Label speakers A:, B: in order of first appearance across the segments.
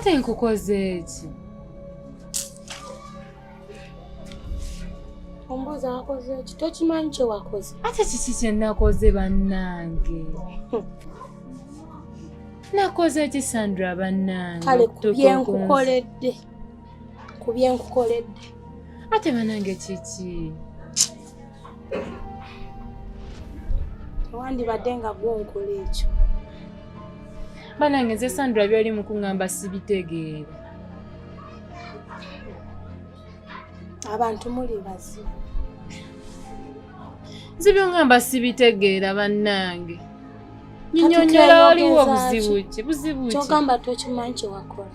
A: ate nkukoze eki
B: ombuuza wakoze eki tokimanyi kyewakoze ate kiki kyenakoze
A: bannange hmm. nakoze eki sandra bannange kale
B: kubyenkukoledde kubyenkukoledde
A: ate banange kiki
B: wandibadde nga gwonkola ekyo banange
A: nze sandra byoli mukuŋamba sibitegeera
B: abantu muli bazibu
A: nze byoŋamba sibitegeera bannange nyinyonyola waliwo buzibu ki buzibu ki kyogamba tokimanyi
B: kyewakola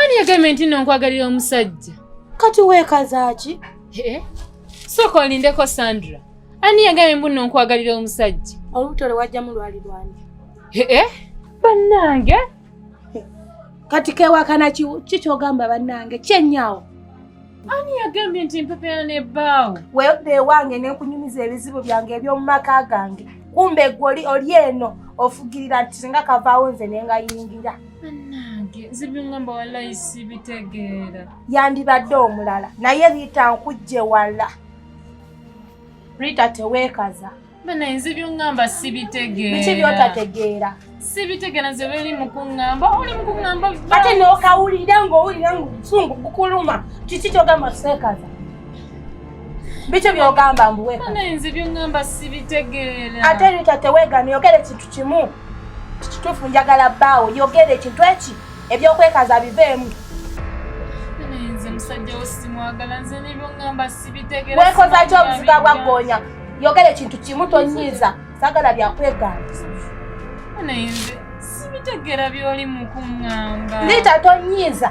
B: ani yagambye
A: nti no nkwagalira omusajja kati
B: weekazaaki eh?
A: sooka olindeko sandra ani yagambye mbu no nkwagalira omusajja olubuto lwe wajjamu
B: lwali lwange eh, eh? bannange kati kewakana ki kyogamba bannange kyenyaawo Ani
A: yagambye nti mpepera ne bbaawo? Weewudde ewange ne
B: nkunyumiza ebizibu byange eby'omu maka gange. Kumbe gwe oli oli eno ofugirira nti singa kavaawo nze ne ngayingira. Bannange
A: nze byongamba wallayi sibitegeera. Yandibadde
B: omulala naye Rita nkujje wala. Rita teweekaza. Bana nze
A: byongamba sibitegeera. Biki byotategeera?
B: Sibitegeera nze
A: beli mukungamba oli mukungamba. Ate n'okawulira
B: ng'owulira ng'obusungu bukuluma kiki kyogamba seekaza? Biki byogamba mbu weka? Bana nze byongamba
A: sibitegeera. Ate Rita teweegamye
B: yogera ekintu kimu. Kituufu njagala bbaawo yogera ekintu eki ebyokwekaza biveemu. Bana
A: nze musajja wo simwagala nze n'ebyongamba sibitegeera. Weekoza ki obuziga
B: bwa ggoonya? yogera ekintu kimu tonyiiza sagala byakwegambisa naye
A: nze sibitegera byoli mukuŋŋamba liita tonyiiza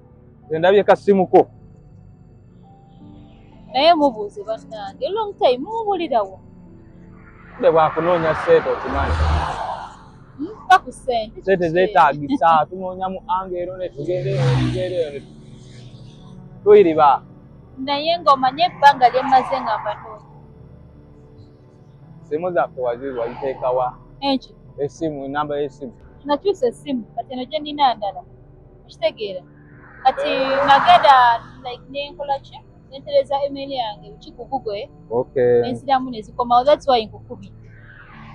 C: nze ndabye kasimuko
A: naye mubuuze bannange long time mumubulirawo
C: nde bwakunoonya sente okimanyi
A: mpa ku sente sente zeetaagisa
C: tunoonya mu anga ero netugendeeyo tuyiriba naye
A: ng'omanye ebbanga lyemmaze nga mbanoonya
C: simu zaffe waziri waziteekawa enki esimu
A: enamba
C: y'esimu nakyusa esimu
A: kati eno gye nnina ndala okitegeera kati nagenda like nenkola ki nentereza email yange ki ku google okay nensiramu
C: nezikomawo
A: that's why nkukubi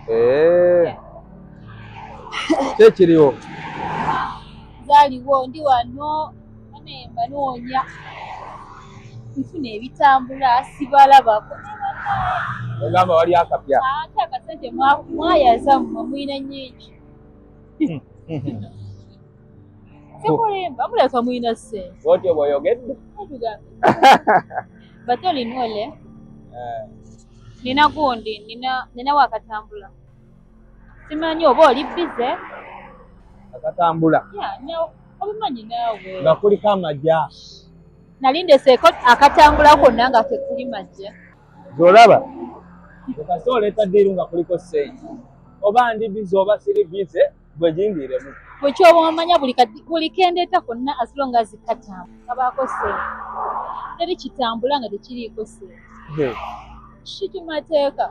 A: eh
C: kye kiriwo zaliwo
A: ndi wano nemba noonya nfuna ebitambula sibalabako
C: ogamba wali akapya ate akasente
A: mwayaza mmwe mulina nyingi hmm, hmm, hmm. Sikulimba, muleka mulina ssente. Bw'oti oba oyogedde? Bate olina ole? Eh. Nina gundi, nina nina wakatambula. Simanyi oba oli bize?
C: Akatambula. Yeah, nyawo.
A: Obimanyi naawe. Nga kuliko amagya.
C: Nali
A: ndeseeko akatambula konna nga tekuli magya. Zolaba.
C: Okase oleeta ddiiru nga kuliko ssente. Oba ndi bize oba siri bize. gwe jindiremu gwe kyoba omanya
A: buli kadi buli kendeeta konna as long as katamu kabaako sente teri kitambula nga tekiriiko sente kiki mateeka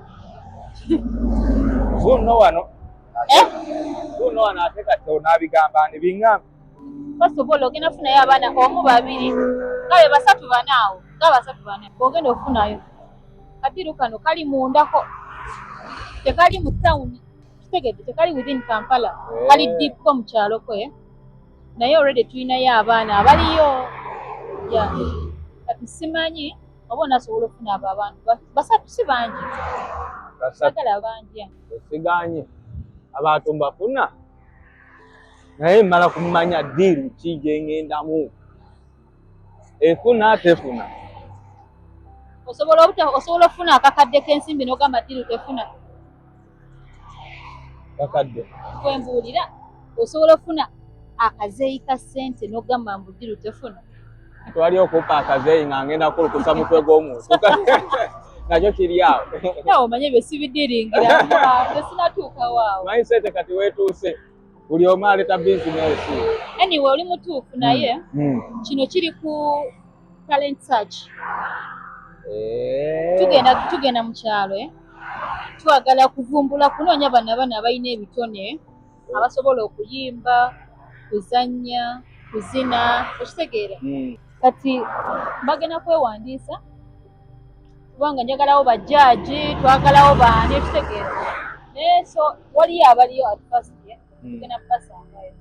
C: vuno wano eh? vuno wano ate kati onaabigamba ni biŋŋambi first of all
A: ogenda funayo abaana omu babiri nga be basatu bana awo nga basatu bana ogenda ofunayo kadiru kano kali mundako tekali mu tawuni kitegedde tekali within kampala eh. kali dipko mu kyalo kwe naye already tulinayo abaana abaliyo kati simanyi oba onasobola okufuna abo abantu basatu si bangi sagala bangi esiganye
C: abantu mbafuna naye mmala kumanya diiru ki gyengendamu efuna tefuna osobola
A: obuta osobola okufuna akakadde k'ensimbi n'ogamba ddiru tefuna
C: kakadde kwembuulira
A: osobola okufuna akazeeyi ka ssente n'ogamba mbu ddiru tefuna twali
C: okupa akazeeyi nga ngenda kulukusa mutwe gw'omuntu nakyo kiri awo omanye ebyo
A: sibidiringira tesinatuukawo awo mindset kati weetuuse
C: buli omu aleta bizinesi anyway oli
A: mutuufu hmm. naye hmm. kino kiri ku talent search eh. tugenda tugenda mu kyalo eh? twagala kuvumbula kunoonya bana bana abalina ebitone abasobola okuyimba kuzannya kuzina okitegeera hmm. kati bagenda kwewandiisa kubanga njagalawo bajjaaji twagalawo baani ekitegeera naye so waliyo abaliyo at first ye hmm. tugenda kubasangayo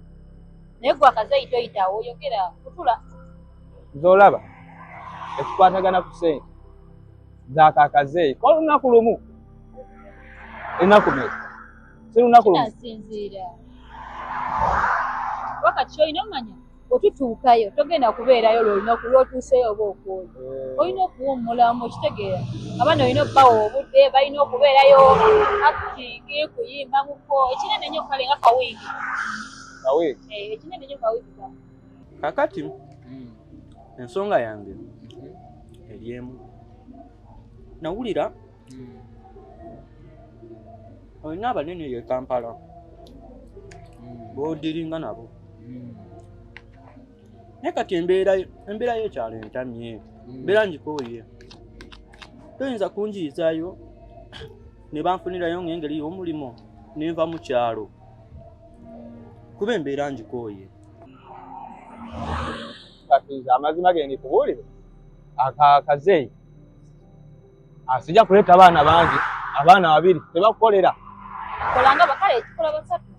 A: naye gwe akazeyi toyitawo oyogera kutula zolaba
C: ekikwatagana ku sente zakakazeeyi kwa lunaku lumu enaku me si lunaku lumu
A: wakati olina omanya otutuukayo togenda kubeerayo lwolunaku lwotuuseyo oba okwoyo eh. olina okuwummulamu okitegeera abaana olina okubawa obudde balina okubeerayo acting kuyimba muko ekinene nyo kale nga kawiiki eh, ekinene nyo kawiiki kakati
D: hmm. ensonga yange hmm. eryemu nawulira olina abanene ye kampala bodiringa nabo naye kati embeera embeera yekyalo entamye mbeera ngikooye toyinza kunjiyizayo ne banfunirayo ng'engeri y'omulimu ne nva mu kyalo kuba embeera ngikooye
C: kati nze amazima ge ndikubuulire akaakazeeyi asija ah, kuleta abaana bangi abaana babiri tebakukolera kolanga
A: bakale ekikola basatu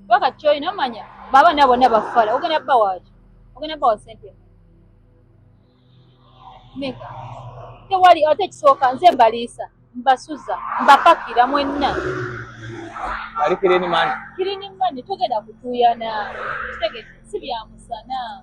A: baka kyoyi nomanya baba nabo ne bafala ogenda bba waaki ogenda bba wa sente meka tewali ate ekisooka nze mbaliisa mbasuza mbapakira mwenna
C: ali kirinimani kirinimani togenda kutuuyana
A: kitegete si byamusana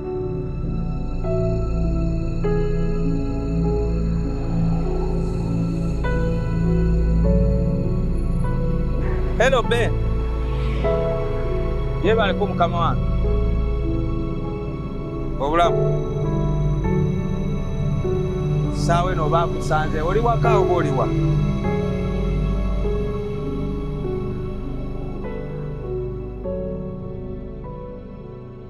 C: Hello Ben. Yebaleko mukama wange. Obulamu. Saawe no bakusanze oli waka oba oli wa?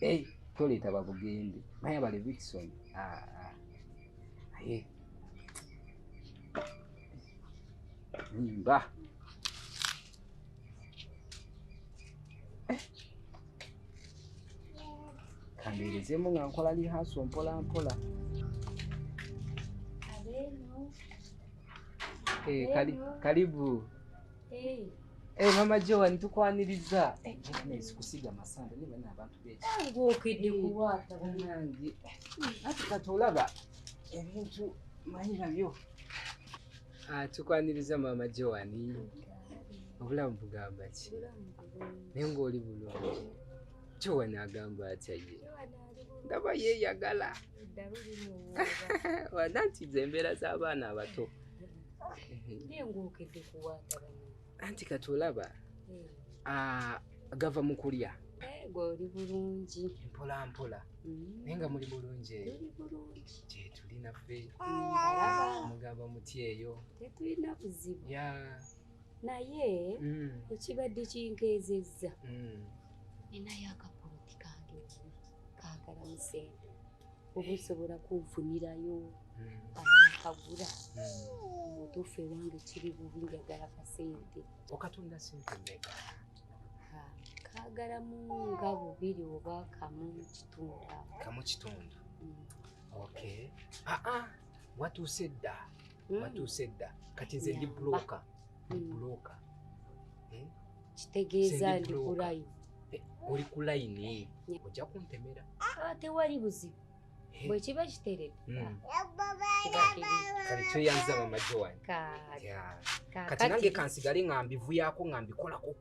E: Hey, toleeta babugende naye abale Wilson ah, ah. Hey. Nimba. Kambeerezemu nga nkola lihaso mpola mpola. Hey, eh, kali, karibu. Hey. Hey, eh, mama Joan tukwaniriza eh, business kusiga masanda niba na abantu bechi ngo okidi kuwata
F: banangi
E: ati katolaba ebintu manyi nabyo ah tukwaniriza mama Joan obulamu bugamba ki naye ng'oli bulungi Joan agamba atya ye ndaba yeeyagala wada nti ze embeera z'abaana abato
F: anti kati
E: olaba hmm. ah, gava mu kulya eh, gwe oli
F: bulungi mpola mpola
E: hmm. naye nga muli bulungi eyo gyetuli naffe hmm, mugamba muti eyo tetulina buzibu
F: naye
E: ekibadde
F: kinkeezezza ninayo akapoloti kange kagala musente oba osobola kunfunirayo amakagula mutuufu ewange kiri bubi njagala kasente okatunda sente
E: meka kagalamu
F: nga bubiri oba kamu kitundu kamu kitundu mm. ok
E: aa ah, ah, watuuse dda mm. watuuse dda kati nze ndi buloka buloka hmm. eh?
F: kitegeeza ndi ku layini eh, oli ku
E: layini ojja kuntemera ah, tewali
F: buzibu eh. bwe kiba kiteredde hmm.
E: kale tweyanza mamajo wange kati nange kansigale nga mbivuyako nga mbikolako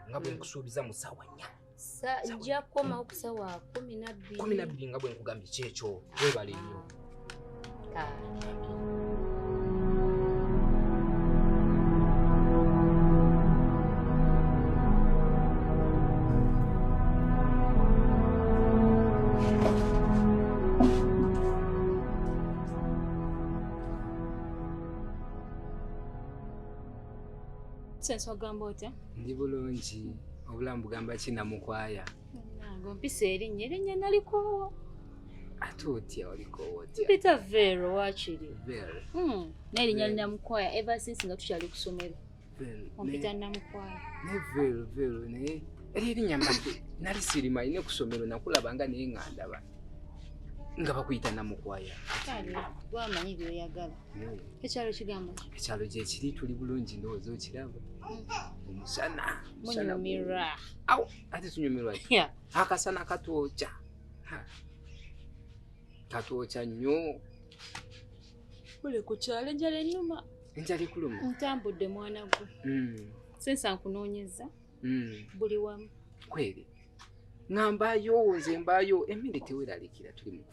E: nga bwe nkusuubiza mu ssaawa nnya sajja kukomawo ku
F: sawa kumi nabbiri kumi nabbiri nga bwe nkugambye
E: kyekyo webale nnyo Senswa
A: gamba otya? ndi bulungi
E: obulamu bugamba ki namukwaya nange ompisa
A: erinnya erinnya nalikoowa ate
E: otya olikoowa otya mpita vero
A: wakiri vero hmm,
E: n'erinnya
A: linamukwaya ever since nga tukyali ku somero ompita namukwaya ne vero
E: vero naye era erinnya mbadde nali sirimanyi ne ku somero nakulaba nga naye nga ndaba nga bakuyita namukwaya
A: wamanyi byoyagala ekyalo kigambo ekyalo gyekiri tuli
E: bulungi ndowooza okiraba hmm. omusana munyumirwa
A: awo ate
E: tunyumirwa akasana katwokya katwokya nnyo
A: ole ku kyalo enjala enuma enjala ekuluma
E: ntambudde mwana
A: gwe hmm. sensa nkunoonyeza hmm. buli wamu kweri
E: ng'ambayo nze mbayo emmere teweralikira tuli mu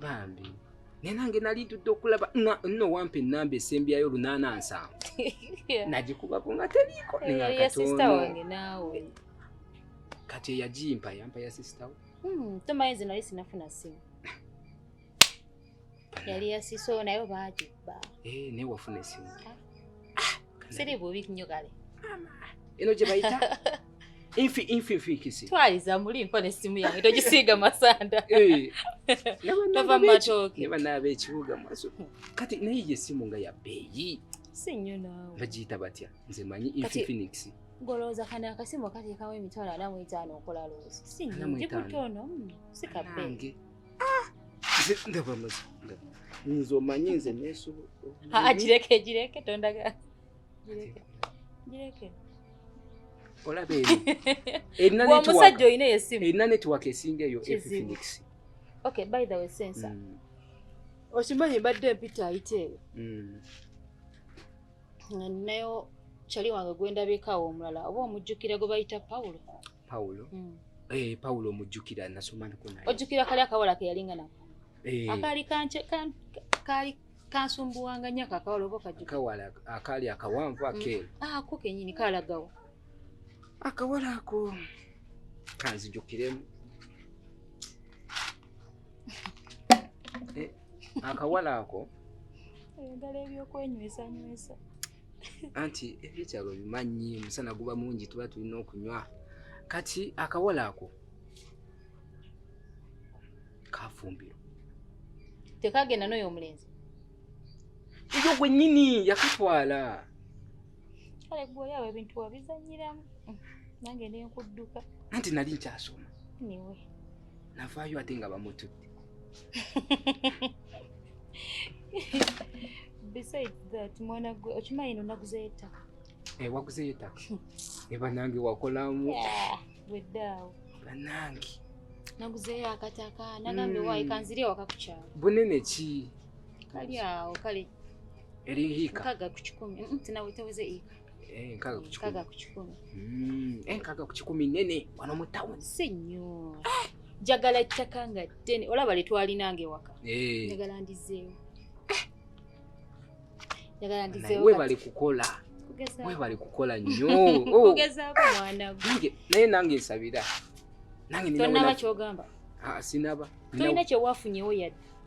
F: bambi
E: naye nange nali ntudde okulaba nno wampa enamba esembyayo lunaana nsanvu nagikubako nga teriiko neyakatono kati eyagimpa yampa ya sisitawo hmm, tomanyi zino ali sinafuna
F: simu yali yasiso nayo baagibba eh, naye wafuna
E: esimu ah.
F: siri bubi nnyo kale eno gye
E: bayita infi infi nfiikisi twaliza muli
F: nko n'essimu yange togisiiga masanda eh. tova mu matooke ne banaaba ekibuga
E: maso kati naye gye essimu nga ya bbeeyi si nnyo naawe
F: bagiyita batya nze
E: manyi infi phoenix golowooza kano
F: akasimu akateekawo emitwalo ana mu etaano okola loozi si nnyo ndi kutono hmm, si kabbeeyi ah!
E: ndaba amazi nze omanyi nze nesobola ah, ah, gireke
F: gireke tondaga gireke gireke
E: olaba eri
F: erina omusajja olina esimu erina network esinga
E: eyo phoenix okay by
F: the way sensa mm. okimanyi mbadde mpita ayite eyo mm. nga ninayo kyali wange gwendabikawo omulala oba omujjukira gwe bayita pawulo Paulo. Mm. Eh, Paulo
E: mujjukira nasoma nako naye. Ojjukira kali akawala ke
F: yalinga nako. Eh. Akali kanche kan kali kansumbuwanga nyaka akawala obo kajjukira. Akawala akali
E: akawanvu ake. Mm. Ah, ko kenyini kala
F: gawo.
E: Akawala ako kanzijukiremu. Eh, akawala ako. Ayagala
F: ebyokwenywesa nywesa.
E: anti ebyetaago bimanyi omusana guba mungi tuba tulina okunywa kati akawala ako kafumbiro
F: tekagenda noyo omulenzi
E: eyo gwenyini yakatwala
F: kale gweoyawo ebintu wabizanyiramu nange nenkudduka anti nali
E: nkyasoma niwe
F: navaayo
E: ate nga bamutudde
F: besides that mwana gwe okimanyi no naguzeyo ettaka eh, waguzeyo
E: ettaka ne banange wakolamu weddaawo
F: banange
E: naguzeyo
F: akataka nagambye wayi hmm. kanziri ewaka ku kyalo bunene ki
E: kali awo
F: kale eri hiika
E: nkaga ku kikumi
F: tinaweteweze iika Eh, nkaga ku kikumi.
E: Nkaga ku kikumi. Mm,
F: eh, nkaga ku kikumi
E: nene wano mu town. Si nnyo.
F: Ah! Njagala ettaka nga ddene olaba lye twalinanga ewaka. Eh. Njagala ndizeewo. Ah! Njagala ndizeewo.
E: Naye bali kukola. Mwe bali kukola nnyo. Oh. Kugezaako mwana
F: gwe. Naye nange nsabira.
E: Nange nina.
F: Tonnaba ky'ogamba. Ah, sinaba.
E: Tolina kye
F: wafunyewo yadde.